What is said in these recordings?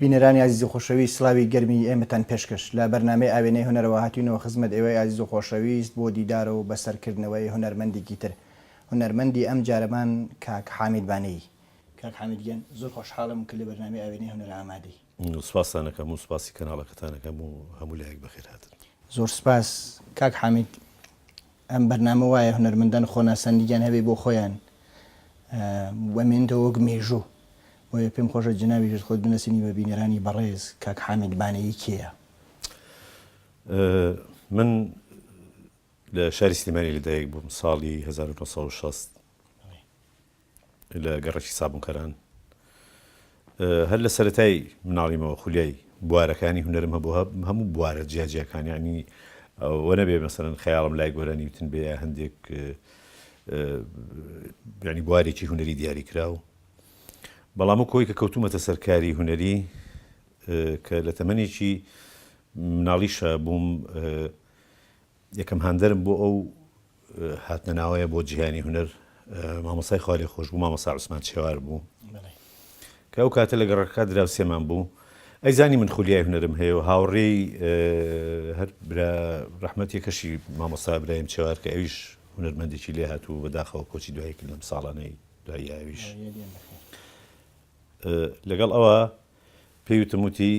بینەرانی ئازیز و خۆشەویست سڵاوی گەرمی ئێمەتان پێشکەش لە بەرنامەی ئاوێنەی هونەرەوە هاتوینەوە خزمەت ئێوەی ئازیز و خۆشەویست بۆ دیدار و بەسەر کردنەوەی هونەرمەندیکی تر هونەرمەندی ئەم جارەمان کاک حامید بانەیی کاک حامید گیان زۆر خۆشحاڵم کە لە بەرنامەی ئاوێنەی هونەرە ئامادەی. سوپاستان ئەکەم و سوپاسی کەناڵەکەتان ئەکەم و هەموو لایەک بەخێر هاتن. زۆر سوپاس کاک حامید. ئەم بەرنامە وایە هونەرمەندان خۆناساندگیان هەبێ بۆ خۆیان و ئەمێنێتەوە وەک مێژوو. بۆیە پێم خۆشە جەنابیشت خۆت بنەسێنی بە بینەرانی بەڕێز کاک حامید بانەیی کێیە؟ من لە شاری سلیمانی لەدایک بووم ساڵی هەزار و نۆ سەد و شەست. لە گەڕەکی سابونکەران هەر لە سەرەتای مناڵیمەوە خولیای بوارەکانی هونەرم هەبووە هەموو بوارە جیاجیاکان یعنی وە نەبێ مەسەرەن خەیاڵم لای گۆرە نیوتن بێ یا هەندێک ینی بوارێکی هونەری دیاری کرا و بەڵام و کۆی کە کەوتومەتە سەرکاری هونەری کە لە تەمەێکی مناڵیشە بووم یەکەم هاندەرم بۆ ئەو هاتنە ناوەیە بۆ جیهانی هونەر مامۆسای خوالێ خۆش بوو مامۆسا عوسمان چێوار بوو کە ئەو کاتە لە گەڕەکە دراوسێمان بوو ئەیزانی من خولیای هونەرم هەیە و هاوڕێی هەر ڕحمەتی کەشی مامۆستا برایم چێوار کە ئەویش هونەرمەندێکی لێ هات و بەداخەوە کۆچی دوایی کرد لەم ساڵانەی دواییاویش لەگەڵ ئەوە پێوتموتی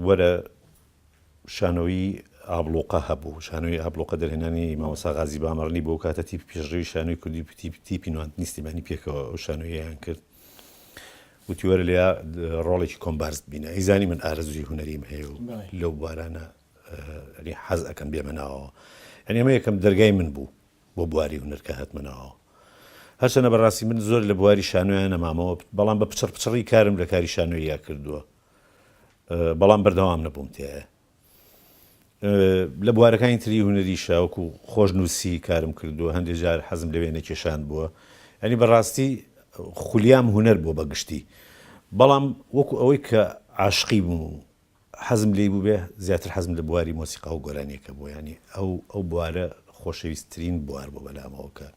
وەرە شانۆیی ئابڵوقە هەبوو، شانۆیی ئابڵوقە دەرهێنانی مامۆستا غازی بامەڕنی بوو، ئەوکاتە تیپی پێشڕەوی شانۆی کوردی تیپی نواند نیستیمانی پێکەوە ئەو شانۆییەیان کرد، وتی وەرە لێیا ڕۆڵێکی کۆمبارست بینە، ئەیزانی من ئارەزووی هونەریم هەیە و لەو بوارانە حەز ئەکەم بێمە ناوەوە، یانی ئەمە یەکەم دەرگای من بوو بۆ بواری هونەر کە هاتمە ناوەوە، هەرچەندە بەڕاستی من زۆر لە بواری شانۆیا نەمامەوە، بەڵام بە پچڕ پچڕی کارم لە کاری شانۆییا کردووە، بەڵام بەردەوام نەبووم تێێ. لە بوارەکانی تری هونەری شاوەکو خۆش نووسی کارم کردووە هەندێک جار حەزم لە وێنە کێشان بووە ئەنی بەڕاستی خولیام هونەر بۆ بەگشتی بەڵام وەکو ئەوەی کە عاشقی بووم و حەزم لی بووبێ زیاتر حەزم لە بواری مۆسیقا و گۆرانیەکە بوو ینی ئەو ئەو بوارە خۆشەویستترین بوار بۆ بەلامەوە کە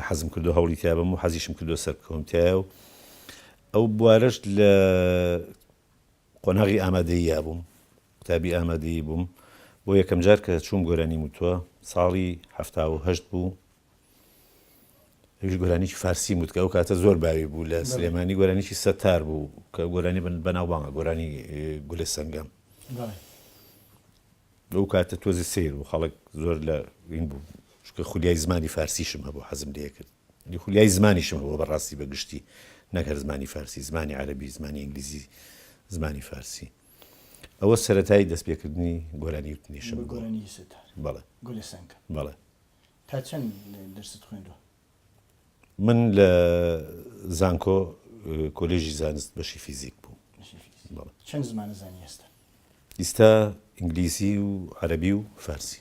حەزم کردو هەوڵی تیابم و حەزیشم کردو سەرکەوم تایە و ئەو بوارەش لە قۆناغی ئامادەییا بووم، قوتابی ئامادەیی بووم، بۆ یەکەمجار کە چووم گۆرانیم وتووە ساڵی حەفتا و هەشت بوو، ئەویش گۆرانیی فارسیم وت کە ئەو کاتە زۆر باوی بوو لە سلێمانی، گۆرانیی سەتار بوو کە گۆرانی بەناوبانگە، گۆرانی گولە سەنگەم. ئەو کاتە تۆزێ سەیر بوو، خەڵک زۆر لە این بوو، چونکە خولیای زمانی فارسیشم هەبوو حەزم لێ کرد. خولیای زمانیشم هەبوو بەڕاستی بە گشتی نەک هەر زمانی فارسی زمانی عەرەبی زمانی ئینگلیزی زمانی فارسی ئەوە سەرەتای دەست پێکردنی گۆرانی وتنیشم بەڵێ بەڵێ تا چەند درست خوێندوە من لە زانکۆ کۆلێژی زانست بەشی فیزیک بوو چەند زمانە زانی ئێستا ئیستا ئینگلیسی و عەربی و فارسی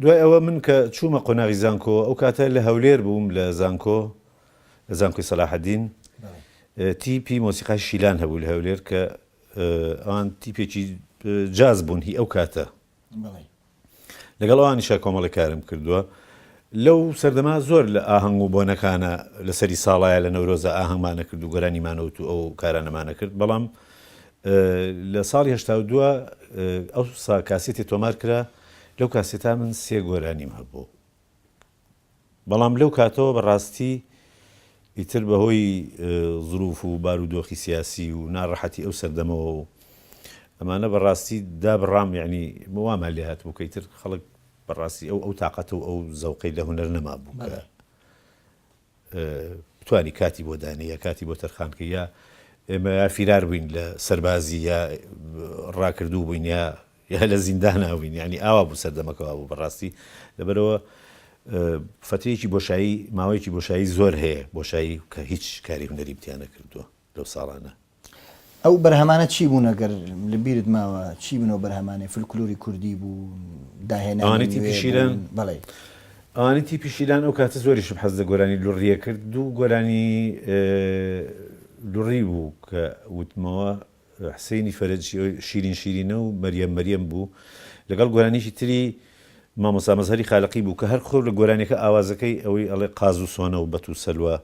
دوای ئەوە من کە چوومە قۆناغی زانکۆ، ئەو کاتە لە هەولێر بووم لە زانکۆ، لە زانکۆی سەلاحەدین، تیپی مۆسیقای شیلان هەبوو لە هەولێر کە ئەوان تیپێکی جاز بوون هی ئەو کاتە. لەگەڵ ئەوانیشا کۆمەڵێک کارم کردووە. لەو سەردەما زۆر لە ئاهەنگ و بۆنەکانە لەسەری ساڵایە لە نەورۆزە ئاهەنگمانە کرد و گۆرانیمانەوت و ئەو کارانەمانە کرد، بەڵام لە ساڵی هەشتا و دوو ئەوسا کاسێتێ تۆمار کرا، لەو کاسێتا من سێ گۆرانیم هەبوو. بەڵام لەو کاتەوە بە ڕاستی ئیتر بە هۆی زروف و بارو دۆخی سیاسی و ناڕەحەتی ئەو سەردەمەوە و ئەمانە بە ڕاستی دابڕام یانی وامان لێ هاتبوو کە ئیتر خەڵک بە ڕاستی ئەو ئەو تاقەت و ئەو زەوقەی لە هونەر نەمابوو کە بتوانی کاتی بۆ دانێ یا کاتی بۆ تەرخان کەی یا ئێمە یا فیرار بووین لە سەربازی یا ڕاکردوو بووین یا یا لە زیندانا بووین یعنی ئاوا بوو سەردەمەکە وا بوو بەڕاستی لەبەرەوە فەترەیەکی بۆشایی ماوەیەکی بۆشایی زۆر هەیە بۆشایی کە هیچ کاری هونەریم تیا نەکردووە لەو ساڵانە. ئەو بەرهەمانە چی بوونە گەر لە بیرت ماوە چی بنەوە بەرهەمانەی فلکلوری کوردی بوو داهێنانی تیپی شیران بەڵێ ئەوانی تیپی شیران ئەو کاتە زۆریشم حەز لە گۆرانی لوڕیە کرد دوو گۆرانی لوڕی بوو کە وتمەوە حسینی فەرج شیرین شیرینە و مەریەم مەریەم بوو لەگەڵ گۆرانیکی تری مامۆسا مەزهەری خالقی بوو کە هەر خۆر لە گۆرانیەکە ئاوازەکەی ئەوەی ئەڵێ قاز و سۆنە و بەت و سەلوا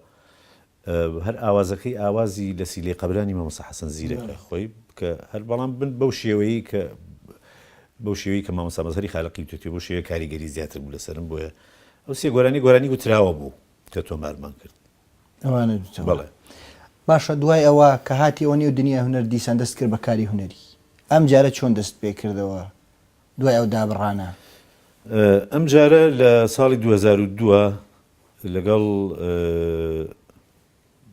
هەر ئاوازەکەی ئاوازی لە سیلەی قەبرانی مامۆستا حەسەن زیرەکە خۆی کە هەر بەڵام بن بەو شێوەیەی کە بەو شێوەیەی کە مامۆستا مەزهەری خالەقی وتۆتی بەو شێوەیە کاریگەری زیاتر بوو لەسەرم بۆیە ئەو سێ گۆرانی گۆرانی وتراوە بوو کە تۆمارمان کرد ئەوانە دوو بەڵێ باشە دوای ئەوە کە هاتی ئەوە نێو دنیای هونەر دیسان دەست کرد بە کاری هونەری ئەم جارە چۆن دەست پێ کردەوە دوای ئەو دابڕانە؟ ئەم جارە لە ساڵی 2002 لەگەڵ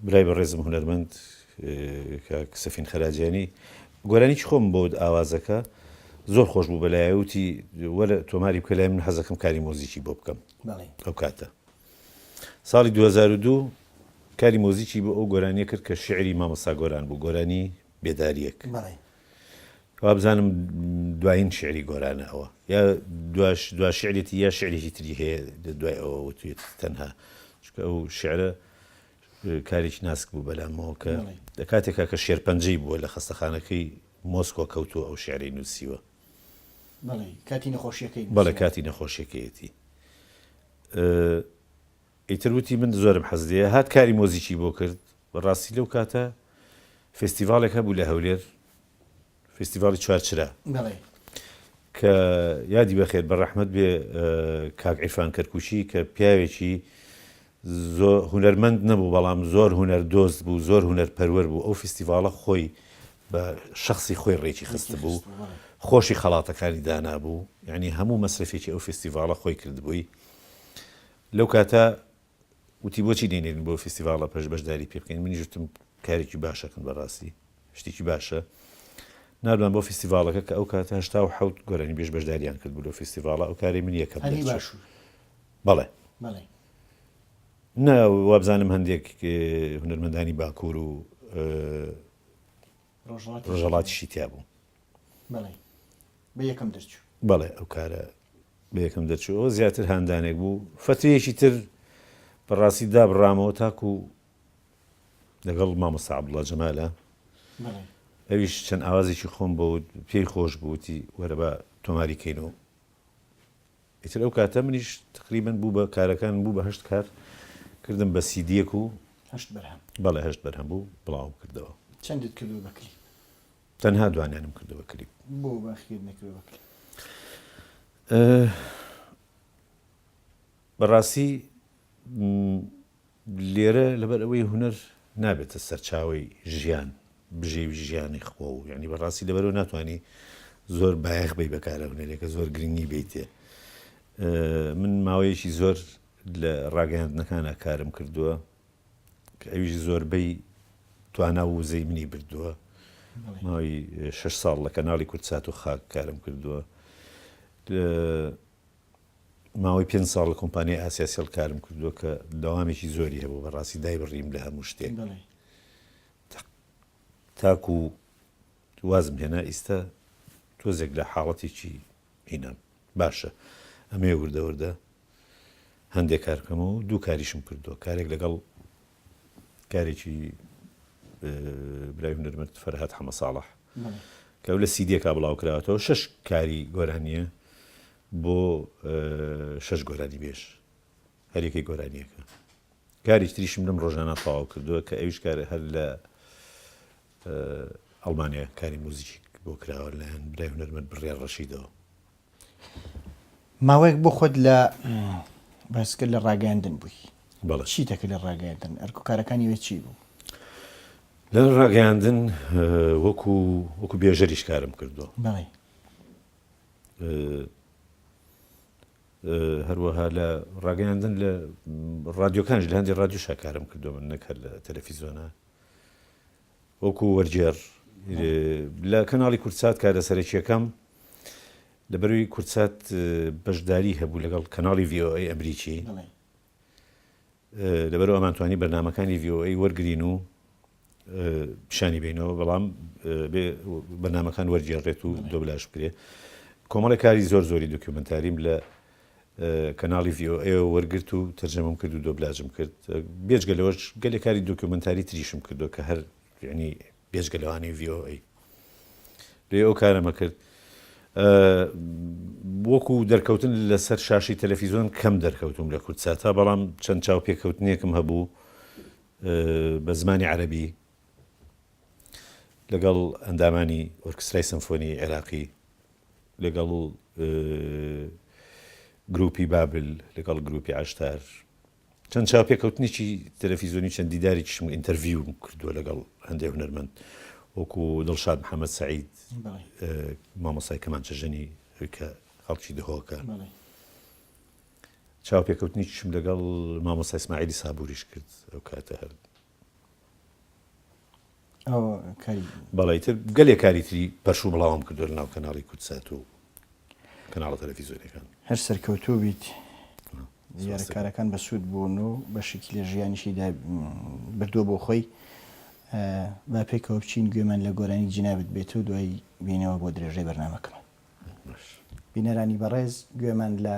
برای بەڕێزم هونەرمەند کاک سەفین خەراجانی گۆرانیی خۆم بۆت ئاوازەکە زۆر خۆش بوو بەلایە وتی وەرە تۆماری بکە لای من حەزەکەم کاری مۆزیکی بۆ بکەم ئەو کاتە ساڵی 2002 کاری مۆزیکی بۆ ئەو گۆرانیە کرد کە شعری مامۆستا گۆران بوو گۆرانی بێداریەک وابزانم دوایین شیعری گۆرانە ئەوە. یا دوا شیعرێتی یا شیعرێکی تری هەیە دوای ئەوە وتوویەتی تەنها. چونکە ئەو شیعرە کارێکی ناسک بوو بەلامەوە کە لە کاتێکا کە شێرپەنجەی بووە لە خەستەخانەکەی مۆسکۆ کەوتووە ئەو شیعرەی نووسیوە. بەڵێ کاتی نەخۆشییەکەی نووسیوە. بەڵێ کاتی نەخۆشییەکەیەتی. ئیتر وتی من زۆرم حەز لێیە. هات کاری مۆزیکی بۆ کرد. بە ڕاستی لەو کاتە فێستیڤاڵێک هەبوو لە هەولێر، فێستیڤاڵی چوار چرا. بەڵێ. کە یادی بە خێر بە ڕەحمەت بێ کاک عیرفان کەرکووکی کە پیاوێکی زۆ هونەرمەند نەبوو بەڵام زۆر هونەر دۆست بوو، زۆر هونەر پەروەر بوو، ئەو فیستیڤاڵە خۆی بە شەخسی خۆی ڕێکی خست بوو، خۆشی خەڵاتەکانی دانابوو، یانی هەموو مەسرەفێکی ئەو فیستیڤاڵە خۆی کردبووی. لەو کاتە وتی بۆچی دەینێرن بۆ فیستیڤاڵە پەش بەشداری پێ بکەین منیش وتم کارێکی باشەکن بەڕاستی شتێکی باشە ناردمان بۆ فیستیڤاڵەکە کە ئەو کاتە هەشتا و حەوت گۆرانی بێژ بەشداریان کرد بوو لەو فیستیڤاڵە ئەو کارەی من یەکەم هەلی دەرچوو باشوور بەڵێ بەڵێ نا وابزانم هەندێک اه، هونەرمەندانی باکوور و اه، ڕۆژەڵاتیشی تیا بوو بەڵێ ئەو کارە بە یەکەم دەرچوو ئەوە زیاتر هاندانێک بوو فەتویەکی تر بەڕاستی دابڕامەوە تاکو لەگەڵ مامۆستا عەبدوڵڵا جەمالە ئەویش چەند ئاوازێکی خۆم بۆ پێی خۆش بووتی وەرە بە تۆماری کەین و ئیتر ئەو کاتە منیش تەقریبەن بوو بە کارەکانم بوو بە هەشت کار کردم بە سیدیەک و هەشت بەرهەم بەڵێ هەشت بەرهەم بوو بڵاوم کردەوە. چەندت کردووە بە کلیپ؟ تەنها دوانیانم کردووە بە کلیپ. بۆ باقیەت نەکردووە بە کلیپ؟ بەڕاستی لێرە لەبەر ئەوەی هونەر نابێتە سەرچاوەی ژیان، بژێوی ژیانی خۆ و یانی بەڕاستی لەبەرەوە ناتوانی زۆر بایەخ بەی بەکارە هونەرێکە زۆر گرنگی بیتێ. من ماوەیەکی زۆر لە ڕاگەیاندنەکانە کارم کردووە کە ئەویش زۆربەی توانا و وزەی منی بردووە ماوەی شش ساڵ لە کەناڵی کوردسات و خاک کارم کردووە ماوەی پێنج ساڵ لە کۆمپانیای ئاسیا سێڵ کارم کردووە کە دەوامێکی زۆری هەبوو بە ڕاستی دای بڕیم لە هەموو شتێک تاکو و وازم هێنا ئیستا تۆزێک لە حاڵەتێکی هینام باشە ئەمێ وردەوردە هەندێک کارکەمە و دوو کاریشم کردووە کارێک لەگەڵ کارێکی برای هونەرمەند فەرهاد حەمەساڵح کە ئەو لە سیدیەکە بڵاوکراوەتەوە شەش کاری گۆرانیە بۆ شەش گۆرانی بێژ هەرێکی گۆرانیەکە کاریش تریشم لەم ڕۆژانە تەواو کردووە کە ئەوش کار هەر لە ئەڵمانیا کاری موزیک بۆ کراوە لەیان برای هونەرمەند بڕێ ڕەشیدەوە ماوەیەک بۆ خۆت لە بەسکرد لە ڕاگەیاندن بووی چی دەکرد لە ڕاگەیاندن ئەرک و کارەکانی وێ چی بوو؟ لە ڕاگەیاندن وەکو وەکو بێژەریش کارم کردووە بەڵێ هەروەها لە ڕاگەیاندن لە ڕادیۆکانش لە هەندی ڕادیو شاکارم کردو من نەکرد لە تەلەفیزۆنا وەکو وەرگێڕ لە کەناڵی کوردسات کارە سەرەکییەکەم لەبەروی کوردسات بەشداری هەبوو لەگەڵ کەناڵی VOA ئەمریکی لەبەرو ئەمانتوانی بەرنمەکانی VOA وەرگین و پیشانی بینەوە بەڵام بەنامەکان وەرگێڕێت و دۆبلاش بکرێت کۆمەڵی کاری زۆر زۆری دکیومنتاریم لە کەناڵی ڤی ئۆ ئەیەوە وەرگرت و تەرجەمەم کرد و دۆبلاجم کرد بێجگە لەوەش گەلێ کاری دۆکیۆمەنتاری تریشم کردووە کە هەر یەعنی بێجگە لەوانەی ڤی ئۆ ئەی لێ ئەو کارەمە کرد وەکو دەرکەوتن لەسەر شاشی تەلەفیزۆن کەم دەرکەوتوم لە کوردساتا بەڵام چەند چاوپێکەوتنێکم هەبوو بە زمانی عەرەبی لەگەڵ ئەندامانی ئۆرکسترای سەمفۆنیی عێراقی، لەگەڵ گرووپی بابل، لەگەڵ گرووپی عەشتار چەند چاوپێکەوتنێکی تەلەفیزیۆنی و چەند دیدارێکیشم، ئینتەرڤیوم کردووە لەگەڵ هەندێ هونەرمەند وەکوو دڵشاد محەممەد سەعید، مامۆستای کەمانچە ژەنی کە خەڵکی دهۆکە. چاوپێکەوتنێکیشم لەگەڵ مامۆستا ئیسماعیلی سابووریش کرد ئەو کاتە هەر بەڵی تر گەلێ کاری تری پەرش و بڵاوم کردوە لە ناو کەناڵی کوردسات و کەناڵە تەلەفیزۆنیەکان هەر سەرکەوتوو بیت دیارە کارەکان بەسوود بوون و بەشێکی لە ژیانیشی بردووە بۆ خۆی با پێکەوە بچین گوێمان لە گۆرانی جینابت بێت و دوای بینەوە بۆ درێژەی بەرنمەکەمان بینەرانی بەڕێز گوێمان لە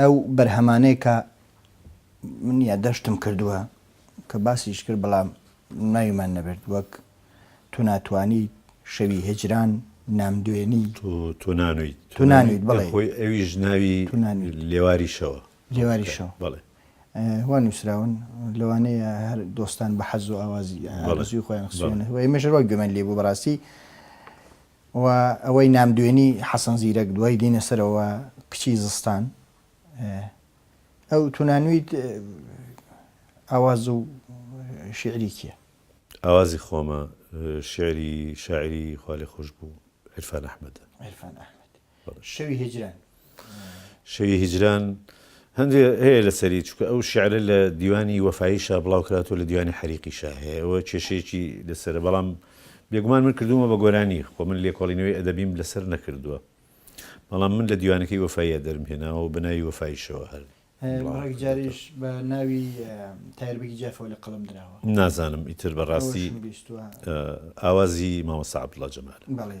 ئەو بەرهەمانەی کە من یادداشتم کردووە کە باسیش کرد بەڵام ناویمان نەبرد وەک، تۆ ناتوانیت، شەوی هیجران، نامدوێنی. تۆ نانویت. تۆ نانویت بەڵێ. خۆی ئەویش ناوی لێواری شەوە. لێواری شەو. بەڵێ. وا نووسراون لەوانەیە هەر دۆستان بە حەز و ئاوازی ئارەزووی خۆیان خستوونە و ئێمەش وا گوێمان لێ بوو بەڕاستی و ئەوەی نامدوێنی حەسەن زیرەک دوای دینە سەرەوە کچی زستان ئەو تونانویت ئاواز و شیعری کیە؟ ئاوازی خۆمە شیعری شاعری خوالێخۆشبوو عیرفان ئەحمەدە. عیرفان ئەحمەد. شەوی هیجران. شەوی هیجران هەندێ هەیە لەسەری چونکە ئەو شیعرە لە دیوانی وەفاییشا بڵاو کراتوە لە دیوانی حەریقیشا هەیە ئەوە کێشەیەکی لەسەرە بەڵام بێگومان من کردوومە بە گۆرانی خۆ من لێکۆڵینەوەی ئەدەبیم لەسەر نەکردووە بەڵام من لە دیوانەکەی وەفاییە دەرمهێناوە و بە ناوی وەفاییشەوە هەر ڕێک جاریش بە ناوی تایر بەگی جافەوە لە قەڵەم دراوە نازانم ئیتر بەڕاستی ئەوەشم بیستووە. ئاوازی مامۆستا عەبدوڵا جەمالە. بەڵێ.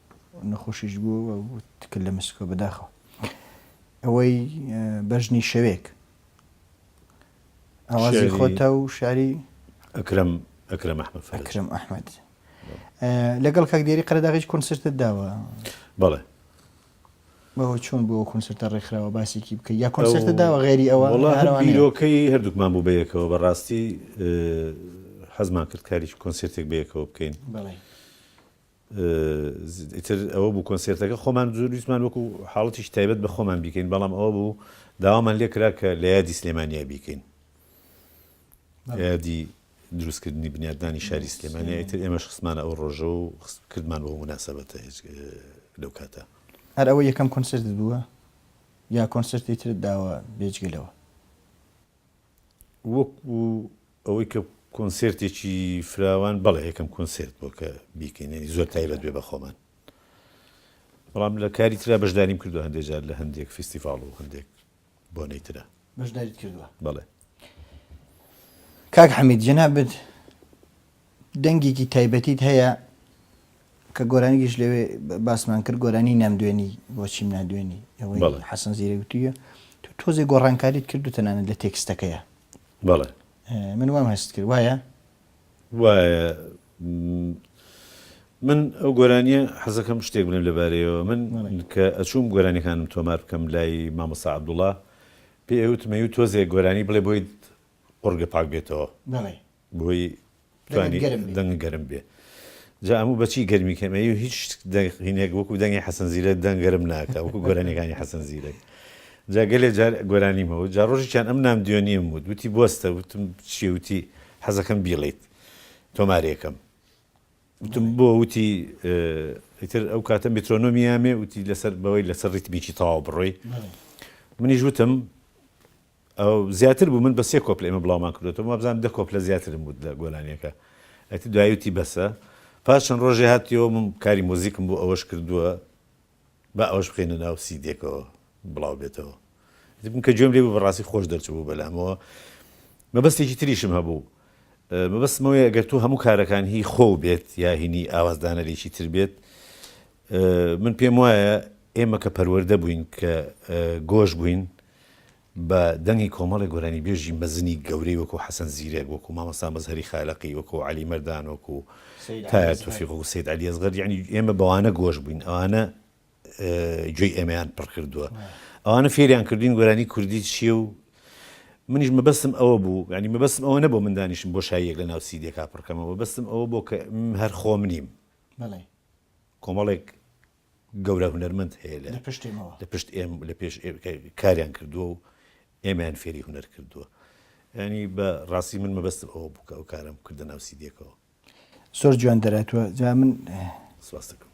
نەخۆشیش بوو و تکل لە مسکۆ بەداخەوە ئەوەی بەژنی شەوێک ئاوازی خۆتە و شاری ئەکرم ئەکرم ئەحمد ئەکرم ئەحمد لەگەڵ کاک دێری قەرداغیش کونسرتت داوە بەڵێ بەەوە چۆن بۆ کونسرتە ڕێکخراوە باسێکی بکە یا کۆنسرتە داوە غێری ئەوە بیرۆکەی هەردووکمان بوو بەیەکەوە بەڕاستی حەزمان کرد کاریش کۆنسرتێک بەیەکەوە بکەین ئیتر ئەوە بوو کۆنسێرتەکە خۆمان زۆر ویستمان وەکو حاڵەتیکی تایبەت بە خۆمان بیکەین بەڵام ئەوە بوو داوامان لێ کرا کە لە یادی سلێمانیا بیکەین لە یادی دروستکردنی بنیادنانی شاری سلێمانیا ئیتر ئێمەش خستمانە ئەو ڕۆژە و کردمان بۆ مناسەبەتە هیچ لەو کاتە هەر ئەوە یەکەم کۆنسێرتت بووە یا کۆنسێرتی ترت داوە بێجگە لەوە؟ وەکو ئەوەی کە کۆنسێرتێکی فراوان بەڵێ یەکەم کۆنسێرت بۆ کە بیکەین یعنی زۆر تایبەت بێ بە خۆمان بەڵام لە کاری ترا بەشداریم کردو هەندێک جار لە هەندێک فیستیڤاڵ و هەندێک بۆنەی ترا بەشداریت کردووە بەڵێ. کاک حەمید جەنابت دەنگێکی تایبەتیت هەیە کە گۆرانیکیش لەوێ باسمان کرد گۆرانی نامدوێنی بۆچیم نادوێنی ئەوەی بەڵێ. حەسەن زیرەک وتویە تو تۆزێ گۆڕانکاریت کرد و تەنانەت لە تێکستەکەیا بەڵێ ئێ من وام هەست کرد وایە؟ وایە م، من ئەو گۆرانیە حەزەکەم شتێک بڵێم لەبارەیەوە من بەڵێ. کە ئەچووم گۆرانیەکانم تۆمار بکەم لای مامۆستا عەبدوڵا پێی ئەوتم ئەیوو تۆزێ گۆرانی بڵێ بۆیت قوڕگە پاک بێتەوە بەڵێ بۆی توانی دەنگ گەرم بێ جا ئەموو بەچی گەرمی کەم ئەی هیچ دەقینێک وەکو دەنگی حەسەن زیرەک دەنگ گەرم ناکە وەکو گۆرانیەکانی حەسەن زیرەک جا گەلێ جار گۆرانیمەوە جا ڕۆژیان ئەم نام دوێنیم وت وتی بستە وتم چی وتی حەزەکەم بیڵیت تۆمارێکم وتم بۆ وتی ئیتر ئەو کاتە میترۆنۆمیامێ وتی لەسەر بەوەی لەسەر ڕیتمیکی تەواو بڕۆی منیش وتم ئەو زیاتر بوو من بە سێ کۆپلە ئێمە بڵاومان کردۆتەوە وابزانم دە کۆپلە زیاترم وت لە گۆرانیەکە ئەتی دوایی وتی بەسە پاش چەند ڕۆژێ هاتیەوە من کاری مۆزیکم بۆ ئەوەش کردووە با ئەوەش بخەینە ناو سیدێکەوە بڵاو بێتەوە ئەتی من کە گوێم لێ بوو بەڕاستی خۆش دەرچبوو بەلامەوە مەبەستێکی تریشم هەبوو مەبەستمەوەی ئەگەر تو هەموو کارەکان هی خۆو بێت یا هینی ئاوازدانەرێکی تر بێت من پێم وایە ئێمە کە پەروەردە بووین کە گۆش بووین بە دەنگی کۆمەڵێ گۆرانیبێژی مەزنی گەورەی وەکوو حەسەن زیرەک، وەکوو مامۆستا مەزهەری خالەقی، وەکوو عەلی مەردان، وەکوو تایا تۆفیق، وەکوو سەید عەلی ئەسغەر، یەعنی ئێمە بەوانە گۆش بووین، ئەوانە گوێی ئێمەیان پڕ کردووە، ئەوانە فێریان کردووین گۆرانی کوردی چییە و منیش مەبەستم ئەوە بوو، یەعنی مەبەستم ئەوە نەبوو من دانیشم بۆشاییەک لەناو سیدێکا پڕ کەمەوە، مەبەستم ئەوە بوو کە من هەر خۆم نیم، کۆمەڵێک. گەورە هونەرمەند هەیە لە لە پشت ئێم لە پێش کاریان کردووە و ئێمەیان فێری هونەر کردووە ینی بە ڕاستی من مەبەستم ئەوە بکە و کارم کردە ناوسی دێکەوە زۆر جوان دەراتوە جا من سواستەکەم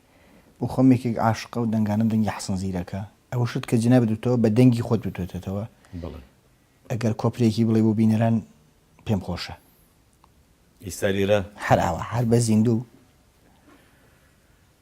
بۆ خۆمێکێک عاشقە و دەنگانم دەنگی حسن زیرەکە ئەوە شت کە جناب دوتەوە بە دەنگی خۆت بتوێتێتەوە ئەگەر کۆپرێکی بڵێ بۆ بینەران پێم خۆشە ئیستا لێرە هەراوە هەر بە زیندوو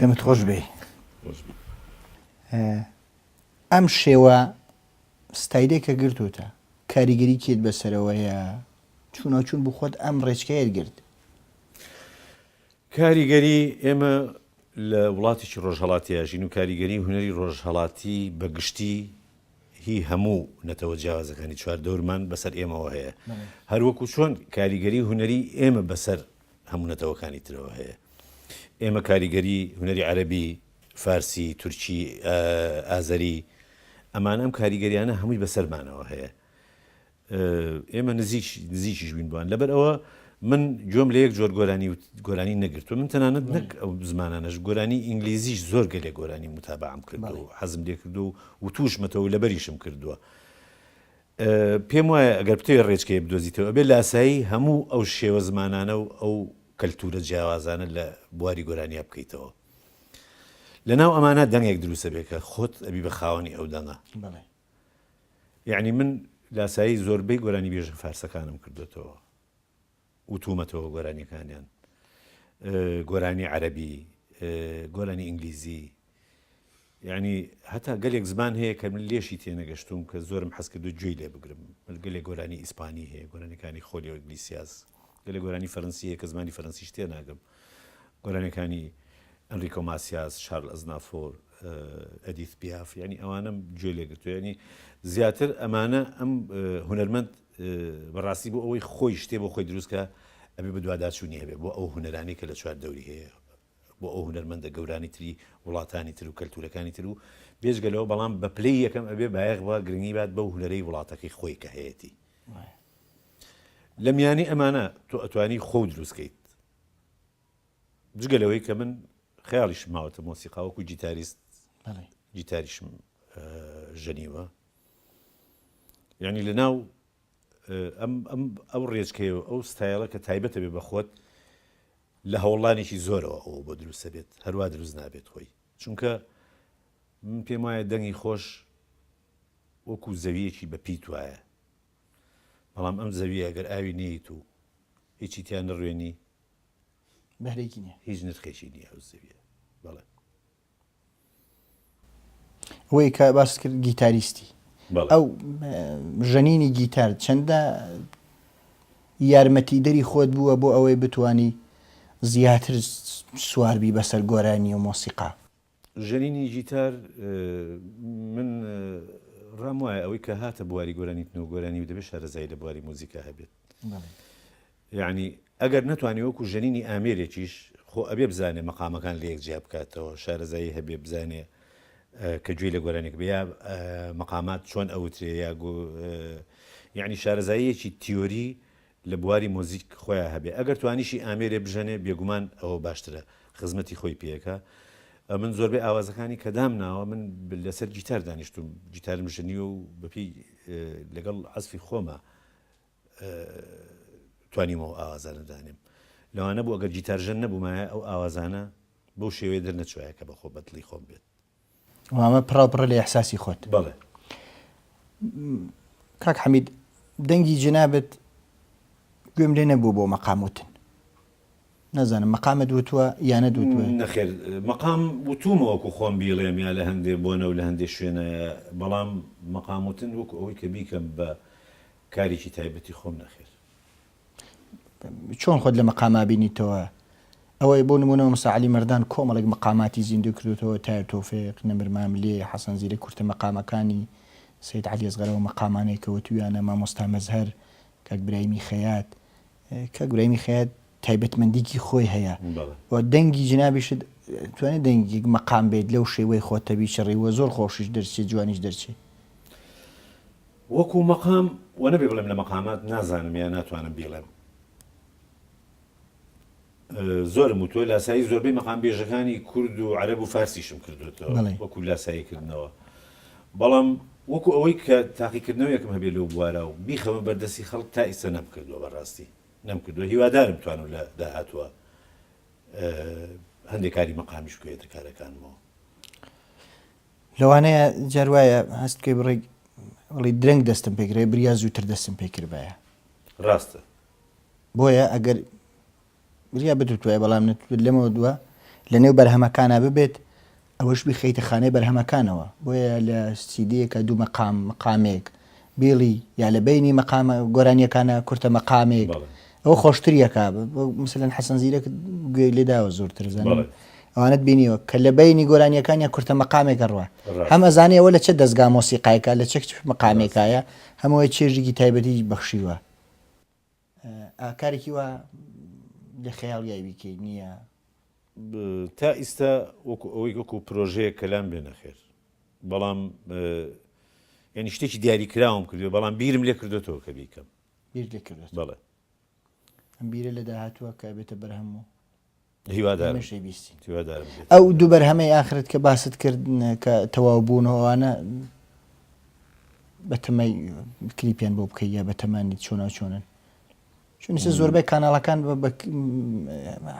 دەمت خۆش بێ ئەم شێوە ستایلێکە گرتوتە کاریگەری کێت بەسەرەوەیە چوونەچوون بخۆت ئەم ڕێچکەیەت گرت کاریگەری ئێمە لە وڵاتیی ڕۆژهڵاتیا ژین و کاریگەری هوەری ڕۆژهڵاتی بەگشتی هی هەموو نەتەوە جیاوازەکانی چوار دەورمان بەسەر ئێمەوە هەیە هەروەکو چۆن کاریگەری هوەری ئێمە بەسەر هەموو نەتەوەکانی ترەوە هەیە. ئێمە کاریگەری هونەری عەرەبی، فارسی، تورکی، ئازەری، ئەمان ئەم کاریگەریانە هەمووی بەسەرمانەوە هەیە. ئێمە نزیک نزیکیش بین بووان لەبەر ئەوە من گوێم لە یەک جۆر گۆرانی و گۆرانی نەگرتووە من تەنانەت نەک ئەو زمانانەش گۆرانی ئینگلیزیش زۆر گەلێ گۆرانی متابعام کردەوە حەزم لێ کردو و توشمەتەوە لەبەریشم کردووە. پێم وایە ئەگەر بتەوێت ڕێچکەیەک بدۆزیتەوە ئەبێت لە ئاسایی هەموو ئەو شێوە زمانانە و ئەو کەلتوورە جیاوازانە لە بواری گۆرانیا بکەیتەوە. لەناو ئەمانە دەنگێک دروست دەبێت کە خۆت ئەبی بە خاوەنی ئەو دەنگە. یانی من لاسایی زۆربەی گۆرانیبێژە فارسەکانم کردووەتەوە. وتومەتەوە گۆرانیەکانیان گۆرانی عەرەبی گۆرانی ئینگلیزی یعنی هەتا گەلێک زمان هەیە کە من لێشی تێنەگەشتوم کە زۆرم حەز کردو گوێی لێ بگرم گەلێک گۆرانی ئیسپانی هەیە گۆرانەکانی خۆلی ئۆگلیسیاز گەلێک گۆرانی فەرەنسیە کە زمانی فەرەنسیش تێ ناگەم گۆرانەکانی ئەنریکۆ ماسیاز شارل ئەزنافۆر ئەدیث پیاف ینی ئەوانم گوێ لێگرتو ینی زیاتر ئەمانە ئەم هونەرمەند بەڕاستی بۆ ئەوەی خۆی شتێ بۆ خۆی دروست کا ئەبێ بەدواداچوونی هەبێ بۆ ئەو هونەرانەی کە لە چوار دەوری هەیە بۆ ئەو هونەرمەندە گەورانی تری وڵاتانی تر و کەلتورەکانی تر و بێجگە لەوە بەڵام بە پلەی یەکەم ئەبێ بایەخ بە گرنگی بات بەو هونەرەی وڵاتەکەی خۆی کە هەیەتی لە میانی ئەمانە تۆ ئەتوانی خۆ دروستکەیت جگە لەوەی کە من خیاڵیش ماوەتە مۆسیقاوەکو جیتاریست جیتاریشم ژەنیوە یانی لە ناو ئەم ئەم ئەو ڕێچکەیە و ئەو ستایلە کە تایبەتە بێ بە خۆت لە هەوڵانێکی زۆرەوە ئەوە بۆ دروستە بێت هەروا دروست نابێت خۆی چونکە من پێم وایە دەنگی خۆش وەکو زەویەکی بە پیت وایە بەڵام ئەم زەویە گەر ئاوی نیت و هیچی تیان نڕوێنی بەرێکی نیە هیچ نرخێکی نیە ئەو زەویە بەڵێ ئەوەی کە باست کرد گیتاریستی ئەو ژەنینی گیتار چەندە یارمەتیدەری خۆت بووە بۆ ئەوەی بتانی زیاتر سواربی بەسەر گۆرانی و مۆسیقا ژەنینی گیتار من ڕام وایە ئەوەی کە هاتە بواری گۆرانیتن و گۆرانی و دەبێت شارەزایی لە بواری موزیکا هەبێت یەعنی ئەگەر نەتوانێ وەکو ژەنینی ئامێرێکیش خۆ ئەبێ بزانێ مەقامەکان لەیەک جیا بکاتەوە شارەزایی هەبێ بزانێ کە گوێی لە گۆرانێک بێ یا مەقامات چۆن ئەوترێ یا یعنی شارەزاییەکی تیۆری لە بواری مۆزیک خۆیان هەبێ ئەگەر توانیشی ئامێرێ بژەنێ بێگومان ئەوە باشترە خزمەتی خۆی پێەکە من زۆربەی ئاوازەکانی کە دام ناوە من لەسەر گیتار دانیشتم گیتارم ژنی و بەپی لەگەڵ عزفی خۆمە توانیومە ئەو ئاوازانە دانێم. لەوانە بوو ئەگەر گیتارژەن نەبوومایە ئەو ئاوازانە بەو شێوەیە دەرنەچوایە کە بەخۆ بەدڵی خۆم بێت. وامە پڕاو پڕە لە ئیحساسی خۆت. بەڵێ. کاک حەمید دەنگی جنابت گوێم لێ نەبوو بۆ مەقام وتن. نازانم مەقامت وتووە یا نەدوتووە. نەخێر مەقام وتوومە وەکو خۆم بیڵێم یا لە هەندێ بۆنە و لە هەندێ شوێنە بەڵام مەقام وتن وەکو ئەوەی کە بیکەم بە کارێکی تایبەتی خۆم نەخێر. چۆن خۆت لە مەقام ئابینیتەوە؟ ئەوەی بۆ نموونە مامۆستا عەلی مەردان کۆمەڵێک مەقاماتی زیندوو کردۆتەوە، تایە تۆفێق، نەمر ماملێ، حەسەن زیرەک کورتە مەقامەکانی، سەید عەلی ئەسغەر ئەو مەقامانەی کە وتوویانە، مامۆستا مەزهەر، کاک برایمی خەیات، کاک برایمی خەیات تایبەتمەندیکی خۆی هەیە و دەنگی جنابیشت توانێت دەنگیک مەقام بێت لەو شێوەی خۆتە بیچڕی و زۆر خۆشیش دەرچێت جوانیش دەرچێت. وەکو مەقام و نەبێ بڵێم لە مەقامات نازانم یا ناتوانم بیڵێم زۆرم وتوە لاسایی زۆربەی مەقام بێژەکانی کورد و عەرەب و فارسیشم کردوێتەوە وەکو لاسایی کردنەوە بەڵام وەکو ئەوەی کە تاقیکردنەوەیەکم هەبێ لەو بوارە و بیخەمە بەردەستی خەڵک تا ئیسە نەم کردووە بەڕاستی نەم کردووە هیوادارم توان و لە داهاتوە هەندێک کاری مەقامیش بکەێتە کارەکانمەوە لەوانەیە جار وایە هەست بکەی بڕێک بڵێی درەنگ دەستم پێ کرایە بریا زووتر دەستم پێ کردبایە. ڕاستە. بۆیە ئەگەر بریا بتوتوایە بەڵام نەتوت لەمەوە دووە لەنێو بەرهەمەکانا ببێت ئەوەش بخەیتە خانەی بەرهەمەکانەوە بۆیە لە سیدیەکە دوو مەقام مقامێک بیڵی یا لە بەینی مەقامە گۆرانیەکانە کورتە مەقامێک ئەو خۆشتریەکە مثلەن حەسەن زیرەک گوێی لێداوە زۆرتر زان ئەوانت بینیوە کە لە بەینی گۆرانیەکانیان کورتە مەقامێکە ڕوە هەمە زانانی ئەوە لە چه دەستگا مۆسیقایکە لە چەک مەقامێکایە هەمووی چێژێکی تایبەتی بەخشیوە ئا کارێکی وا لە خەیاڵیای بیکەی نییە؟ تا ئیستا وەکو ئەوەی وەکو پرۆژەیەک کەلام بێ نەخێر بەڵام یانی شتێکی دیاری کراوم کردێ بەڵام بیرم لێ کردێتەوە کە بیکەم بیر لێ کردێت بەڵێ ئەم بیرە لە داهاتووە کە بێتە بەرهەم و هیوادارم هیوادارم بێت. ئەو دوو بەرهەمەی ئاخرت کە باست کرد کە تەواو بوون و ئەوانە بەتەمای کلیپیان بۆ بکەی یا بەتەمانیت چۆنا چۆنن چون سە زۆربەی کاناڵەکان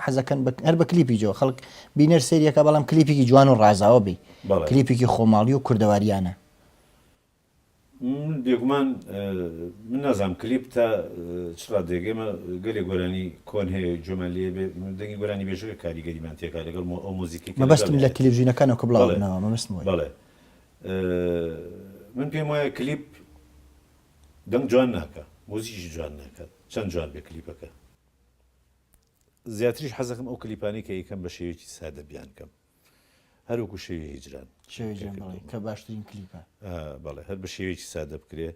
حەزەکەن هەر بە کلیپی جۆ خەڵک بینەر سریەکە بەڵام کلیپێکی جوان و ڕازاوە بی کلیپێکی خۆماڵی و کوردەواریانە من بێگومان من نازانم کلیپ تا چ ڕادەیەک ئێمە گەلێ گۆرانی کۆن هەیە گوێمان لێ بێ دەنگی گۆرانی بێژەکە کاریگەریمان تێکا لەگەڵ ئەو مۆزیکی مەبەستم لە تلویزیونەکانەوە کە بڵاو بنەوە مەبەستم وایە بەڵێ من پێم وایە کلیپ دەنگ جوان ناکا مۆزیکیش جوان ناکات چەند جوان بێ کلیپەکە زیاتریش حەزەکەم ئەو کلیپانەی کە یەکەم بە شێوەیەکی سادە بیان کەم هەروەکو شەوی هیجران. شەوی هیجران بەڵێ کە باشترین کلیپە. بەڵێ هەر بە شێوەیەکی سادە بکرێ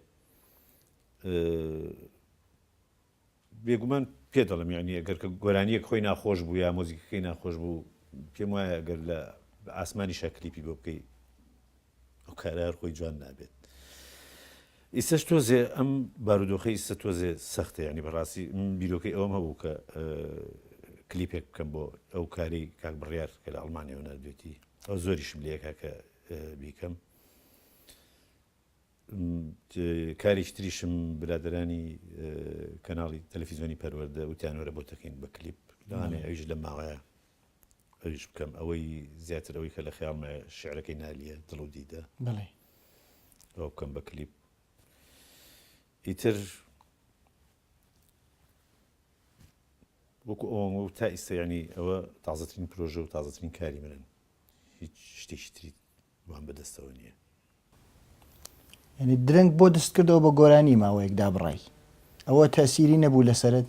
بێگومان پێ دەڵم یعنی ئەگەر کە گۆرانیەک خۆی ناخۆش بوو یا مۆزیکەکەی ناخۆش بوو پێم وایە گەر لە ئاسمانی شەکلیپی بۆ بکەی ئەو کارە هەر خۆی جوان نابێت. ئیستەش تۆزێ ئەم بارودۆخی ئیستە تۆزێ سەختە یعنی بەڕاستی بیرۆکەی ئەوم هەبوو کە کلیپێک بکەم بۆ ئەو کاری کاک بڕیار کە لە ئەڵمانیەوە نردێتی ئەو زۆریشم لەکە کە بیکەم کاریش تریشم برادرانی کەناڵی تەلەفیزیۆنی پەروەەردە وتیانۆرە بۆ تەکەین بە کلیپ لەوانێ ئەویش لە ماوەیە ئەویش بکەم ئەوەی زیاتر ئەوەی کە لە خەیاڵمە شعرەکەی نالیە دڵ و دیدە بڵێ ئەو بکەم بە کلیپ ئیتر وەکو ئەوەن و تا ئیسەیانی ئەوە تازەترین پرۆژە و تازەترین کاری منن هیچ شتێکی تری وام بەدەستەوە نیە. یانی درەنگ بۆ دست کردەوە بە گۆرانی ماوەیەک دابڕای ئەوە تەئسیری نەبوو لەسەرت؟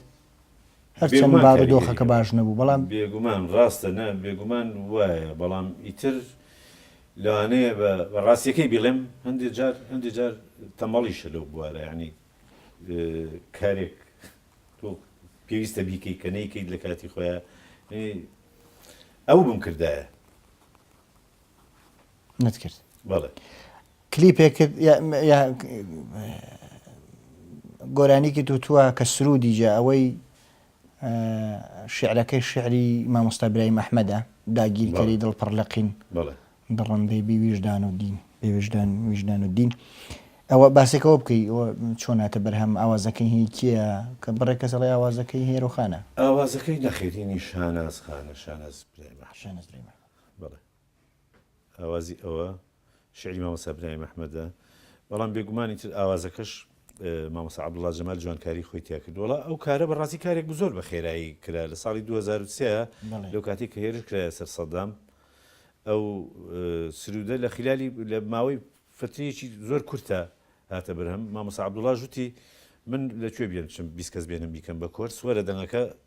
هەر چەند بارودۆخەکە باش نەبوو بەڵام. بێگومان ڕاستە نا بێگومان وایە بەڵام ئیتر لەوانەیە بە ڕاستیەکەی بیڵێم هەندێ جار هەندێ جار تەمەڵیشە لەو بوارە یانی کارێک تۆ پێویستە بیکەی کە نەیکەیت لە کاتی خۆیان ئەوو بم کردایە. نت کرد بەڵێ کلیپێک کرد یا- یا گۆرانیکی توتوە کە سرودی جا ئەوەی ئە، شعرەکەی شعری مامۆستا برایم ئەحمەدە داگیرکەری بەڵێ. دڵ پڕ لە قین بەڵێ دڕندەی بی ویژدان و دین بێ ویژدان ویژدان و دین ئەوە باسێک ئەوە بکەی ئەوە چۆن هاتە بەرهەم ئاوازەکەی هی کێیە کە بڕێک کەس ئەڵێ ئاوازەکەی هێرۆ خانە ئاوازەکەی نەخێر هینی شاناز خانە شاناز برایم ئەحمەد. شانەز برای مەحمەد بەڵێ ئاوازی ئەوە شعری مامۆستا برایم ئەحمەدە بەڵام بێگومانی تر ئاوازەکەش مامۆسا عبدڵا جەمال جوانکاری خۆی تیا کرد وڵا ئەو کارە بەڕاستی کارێک بە زۆر بە خێرایی کرا لە ساڵی 2023 لەو کاتی کە هێرش کرا سەر سەدام ئەو سرودە لە خلالی لە ماوەی فترەیەکی زۆر کورتە هاتە برهەم مامۆسا عبدڵا ژوتی من لەکوێ بێنچم بیست کەس بێنم بیکەم بە کۆرس وەرە دەنگەکە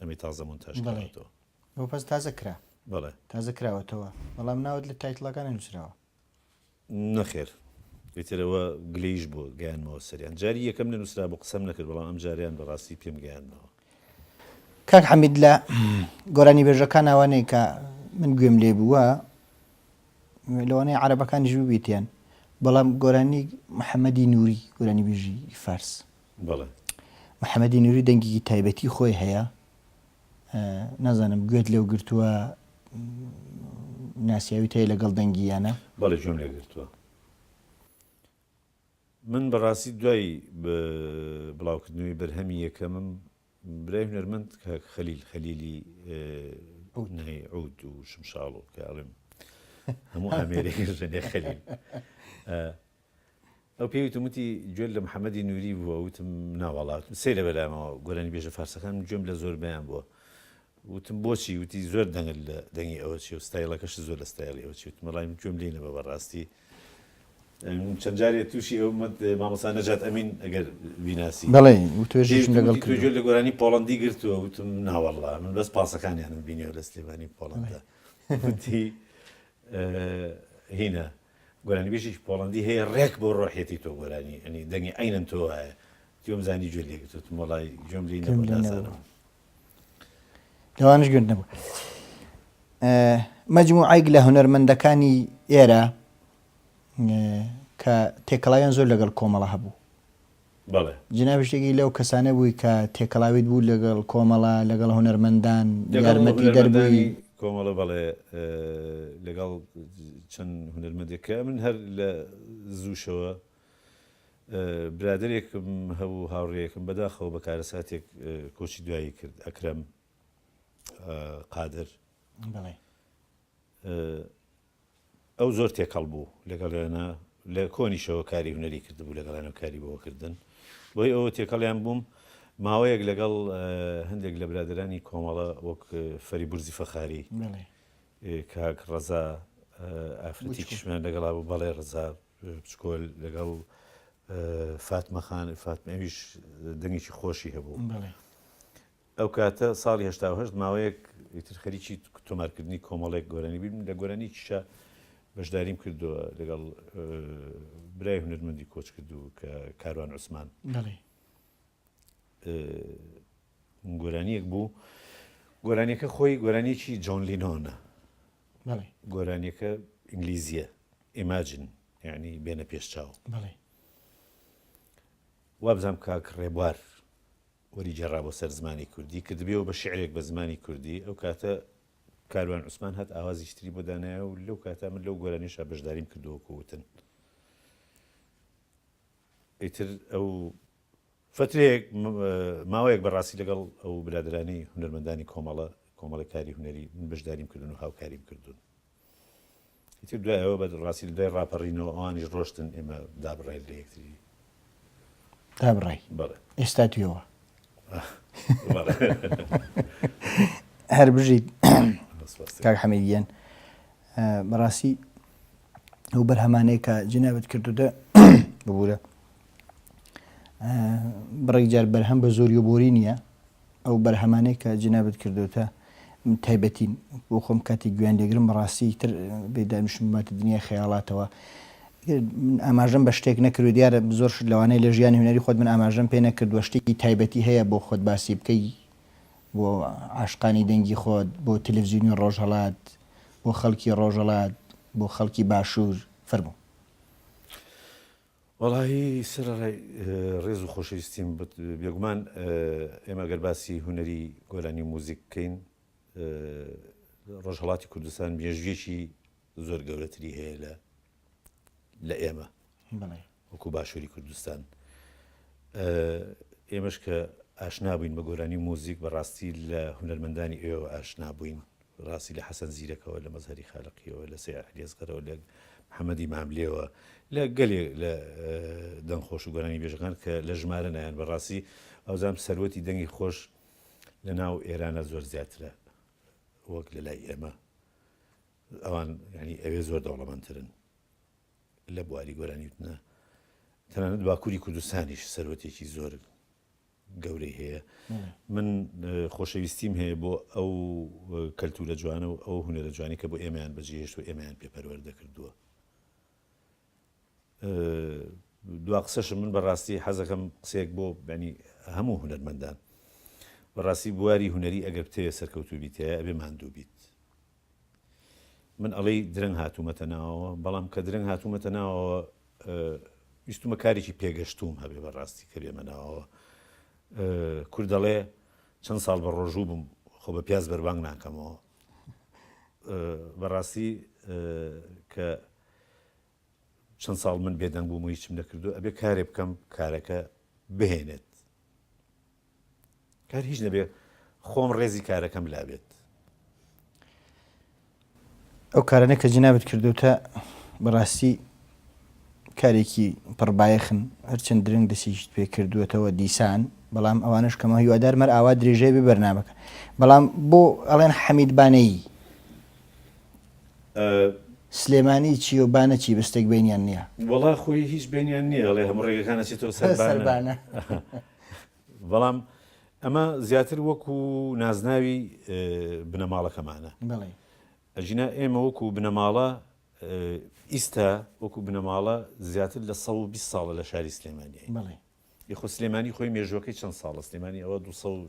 ئەمەی تازە مونتاژ کراوەتەوە. بەڵێ بەس تازە کرا. بەڵێ تازە کراوەتەوە بەڵام ناوت لە تایتڵەکە نەنووسراوە. نەخێر ئیتر ئەوە گلەییش بووە گەیاندمەوە سەریان جاری یەکەم نەنووسرابوو قسەم نەکرد بەڵام ئەمجارەیان بەڕاستی پێم گەیاندنەوە. کاک حەمید لە گۆرانیبێژەکان ئەوانەیە کە من گوێم لێ بووە لەوانەیە عەرەبەکانیش ببیتیان بەڵام گۆرانی محەممەدی نووری گۆرانیبێژی فارس بەڵێ. محەمەدی نوری دەنگێکی تایبەتی خۆی هەیە نازانم گوێت لێو گرتووە ناسیاوی تای لەگەڵ دەنگییانە بەڵێ گوێم لێ گرتووە من بەڕاستی دوای بڵاوکردنەوەی بەرهەمی یەکەمم برای هونەرمەند کاک خەلیل خەلیلی عود نەی عود و شمشاڵ و کە ئەڵێم هەموو ئامێرێک ژەنێ خەلیل ئەو پێوی تومتی گوێل لە محەممەدی نووری بووە وتم ناوەڵات سێ لە بەلامەوە گۆرانی بێژە فارسەکان گوێم لە زۆر بیان بووە وتم بۆچی وتی زۆر دەنگل لە دەنگی ئەوە چی و ستایلەکەش زۆر لە ستایلی ئەو چی وتمەڵی گوێم لینەوە بەڕاستی چەند جارێ تووشی ئەو مت مامۆستا نەجات ئەمین ئەگەر بیناسی بەڵێ وتوێژیشم لەگەڵ کرد گوێ لە گۆرانی پۆڵەندی گرتووە وتم نا وەڵڵا من بەس پاسەکانیانم بینیوە لە سلێمانی پۆڵەندا وتی هینا گۆرانی بێژێکی پۆڵەندی هەیە ڕێک بۆ ڕۆحێتی تۆ گۆرانی ئەنی دەنگی عینەن تۆ وایە تۆم زانی گوێ لێگرتوت مۆڵای گوێم لێ نەبوو نازانم لەوانش گرد نەبوو مەجموعایک لە هونەرمەندەکانی ئێرە کە تێکەڵاویان زۆر لەگەڵ کۆمەڵە هەبوو جناب شتێکی لەو کەسانە بووی کە تێکەڵاویت بوو لەگەڵ کۆمەڵە لەگەڵ هونەرمەندان یارمەتی دەربووی کۆمەڵە بەڵێ لەگەڵ چەند هونەرمەندێکە من هەر لە زووشەوە برادەرێکم هەبوو هاوڕێیەکم بەداخەوە بە کارەساتێک کۆچی دوایی کرد ئەکرەم قادر ئەو زۆر تێکەڵ بوو لەگەڵێنە لە کۆنیشەوە کاری هوەری کردبوو لەگەڵێنە کاری بۆکردن بۆی ئەوە تێکەڵیان بووم ماوەیەک لەگەڵ هەندێک لە برادرانی کۆمەڵە وەک فەری برزی فەخاری کاک ڕەزا ئافرەتی کشمان لەگەڵا بوو بەڵێ ڕزاب بچکۆل لەگەڵ فاتمە خان فاتمەویش دەنگێکی خۆشی هەبوو ئەو کاتە ساڵی هشت ماوەیەک ئیتر خەریکی تۆمارکردنی کۆمەڵێک گۆرانی بیم لە گۆرانی کیشە بەشداریم کردووە لەگەڵ برای هونەرمەندی کۆچ کردو کە کاروان عوسمان گۆرانیەک بوو گۆرانیەکە خۆی گۆرانیەکی جۆن لینۆنە گۆرانیەکە ئینگلیزیە ئیماجن یعنی بێنە پێش چاو وابزانام کاک ڕێبوار وەری جێرا بۆ سەر زمانی کوردی کە دەبێەوە بە شعرێک بە زمانی کوردی ئەو کاتە کاروان عوسمان هات ئاوازیشتری بۆ دانایە و لەو کاتە من لەو گۆرانیشە بەشداریم کردووە کووتن ئیتر ئەو فترەیەک ماوەیەک بەڕاستی لەگەڵ ئەو برادەرانی هونەرمەندانی کۆمەڵە کۆمەڵی کاری هونەری من بەشداریم کردن و هاوکاریم کردوون ئیتر دوایەوە بە ڕاستی لە دوای ڕاپەڕینەوە ئەوانیش ڕۆشتن ئێمە دابڕای لە یەکتری دابڕای بەڵێ ئێستا توێەوە هەر بژیت کاک حەمەیەن بەڕاستی ئەو بەرهەمانەیە کە جنابەت کردوتە ببوورە بڕێک جار بەرهەم بە زۆری و بۆری نییە ئەو بەرهەمانەیە کە جنابەت کردوتە تایبەتین بۆ خۆم کاتی گویان لێگرم بەڕاستی تر بێدامشمباتە دنیای خەیاڵاتەوە من ئاماژەم بە شتێک نەکرد دیارە زۆر لەوانەیە لە ژیانی هوەری خۆت من ئاماژەم پێ نەکردوە شتێکی تایبەتی هەیە بۆ خۆت باسی بکەی بۆ عاشقانی دەنگی خۆت بۆ تەلەڤزیونی ڕۆژهڵات بۆ خەڵکی ڕۆژەڵات بۆ خەڵکی باشوور فەرموو. وەڵاهی سەرەڕای ڕێز و خۆشەویستیم بت بێگومان ئێمە گەر باسی هونەری گۆرانی و موزیک بکەین ڕۆژهڵاتی کوردستان مێژویەکی زۆر گەورەتری هەیە لە لە ئێمە وەکو باشوری کوردستان ئێمەش کە ئاشنا بووین بە گۆرانی و موزیک بە ڕاستی لە هونەرمەندانی ئێوە ئاشنا بووین ڕاستی لە حەسەن زیرەکەوە لە مەزهری خالقیەوە لە سێ ئەحلیێزگەرەوە لە محەممەدی ماملێەوە لە گەلێ لە دەنگ خۆش و گۆرانی بێژەکان کە لە ژمارە نایەن بە ڕاستی ئەوزام سەروەتی دەنگی خۆش لە ناو ئێرانە زۆر زیاترە وەک لە لای ئێمە ئەوان ینی ئەوێ زۆر دەوڵەمەندترن لە بواری گۆرانی وتنە تەنانەت باکووری کوردستانیش سەروەتێکی زۆر گەورەی هەیە من خۆشەویستیم هەیە بۆ ئەو کەلتورە جوانە و ئەو هوەرە جوانی کە بۆ ئێمەیان بەجێهێشت و ئێمەیان پێپەروەەر دەکردووە دو قسەشم من بەڕاستی حەزەکەم قسێک بۆ بەنی هەموو هوەرمەندان بەڕاستی بواری هوەری ئەگەر بتەوێت سەرکەوتوبیتەیە ئەبێ ماندوو بیت من ئەڵێی درەنگ هاتوومەتە ناوەوە، بەڵام کە درەنگ هاتوومەتە ناوەوە ویستومە کارێکی پێگەشتووم هەبێ بەڕاستی کە بێمە ناوەوە. کورد دەڵێ چەند ساڵ بە ڕۆژوو بم خۆ بە پیاز بەربانگ ناکەمەوە. بەڕاستی کە چەند ساڵ من بێدەنگ بووم و هیچم نەکردو ئەبێ کارێ بکەم کارەکە بهێنێت کار هیچ نەبێ خۆم ڕێزی کارەکەم لابێت ئەو کارانە کە جنابت کردوتە بەڕاستی کارێکی پڕبایەخن هەرچەند درنگ دەسیشت پێ کردووەتەوە دیسان بەڵام ئەوانش کەمە هیوادار مەر ئاوا درێژەی ببەرنامەکە بەڵام بۆ ئەڵێن حەمیدبانەیی ئە. سلێمانی چی و بانە چی بستێک بەینیان نیە. وەڵا خۆی هیچ بەینیان نیە ئەڵێ هەموو ڕێگەکان ئەچێتەوە سەر بانە. بانە. بەڵام ئەمە زیاتر وەکو نازناوی بنەماڵەکەمانە. بەڵێ. ئەجینا ئێمە وەکو بنەماڵە ئیستا وەکو بنەماڵە زیاتر لە سەد و بیست ساڵە لە شاری سلێمانیین. بەڵێ. یخۆ سلێمانی خۆی مێژوەکەی چەند ساڵە سلێمانی ئەوە دو سەد و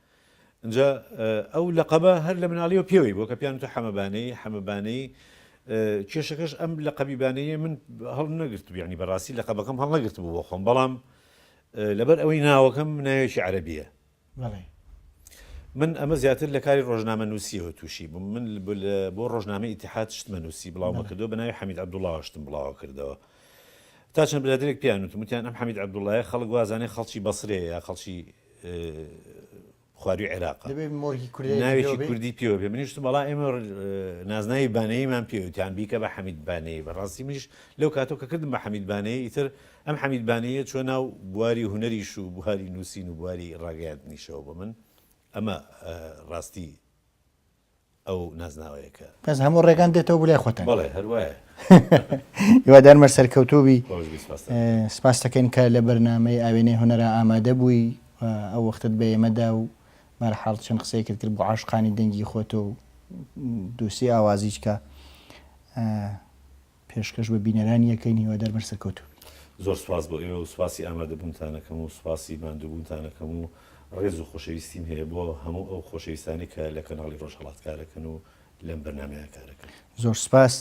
ئینجا ئەو لەقەبە هەر لە مناڵیەوە پێوەی بووە کە پێیان وتە حەمە بانەیی، حەمە بانەیی. کێشەکەش ئەم لەقەبی بانەییە من هەڵنەگرتبوو، یانی بەڕاستی لەقەبەکەم هەڵنەگرتبوو بۆ خۆم، بەڵام لەبەر ئەوەی ناوەکەم ناوێکی عەرەبییە. بەڵێ. من ئەمە زیاتر لە کاری ڕۆژنامەنووسییەوە تووشی بووم. من بۆ ڕۆژنامەی ئیتیحاد شتمە نووسی، بڵاومە کردەوە، بە ناوی حەمید عەبدوڵڵاوە شتم بڵاوە کردەوە. تا چەند برادەرێک پێیان وتم، وتیان ئەم حەمید عەبدوڵڵایە خەڵک وا زانێ خەڵکی بەسرەیە یا خەڵکی، خواروی عێراق ناوێکی کوردی پێوە بێ منیشت بەڵا ئێمە نازناوی بانەیمان پێوتان بیکە بە حەمید بانەیە بەڕاستی منیش لەو کاتۆ کە کردم بە حەمید بانەیە ئیتر ئەم حەمید بانەیە چۆ ناو بواری هوەریش و بواری نووسین و بواری ڕاگەیاندنیشەوە بە من ئەمە ڕاستی ئەو نازناوەیە کە. بەس هەموو ڕێگان دێتەوە بۆ لای خۆتان. بەڵێ هەر وایە. هیوادارمە سەرکەوتوو بی. خۆش بیست ماستەر. سپاست دەکەین کە لە بەرنامەی ئاوێنەی هونەرا ئامادە بووی و ئەو وەختەت بە ئێمە دا و بە هەر حاڵ چەند قسەیەکت کرد بۆ عاشقانی دەنگی خۆت و دووسی ئاوازیچکە. پێشکەش بە بینەرانی ئەکەین هیوادار بن سەرکەوتوو بن. زۆر سوپاس بۆ ئێوە و سوپاسی ئامادەبوونتان ئەکەم و سوپاسی ماندووبوونتان ئەکەم و ڕێز و خۆشەویستیم هەیە بۆ هەموو ئەو خۆشەویستانەی کە لە کەناڵی ڕۆژهەڵات کارەکەن و لەم بەرنامەیە کارەکەن. زۆر سوپاس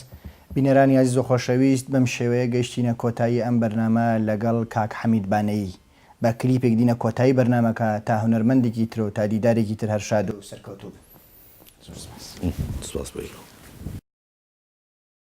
بینەرانی ئازیز و خۆشەویست، بەم شێوەیە گەیشتینە کۆتایی ئەم بەرنامە لەگەڵ کاک حەمید بانەیی. بە کلیپێک دینە کۆتایی بەرنامەکە، تا هونەرمەندێکی ترو تا دیدارێکی تر هەر شادو سەرکەوتوو بن. زۆر سوپاس. سوپاس بۆ ئێوە.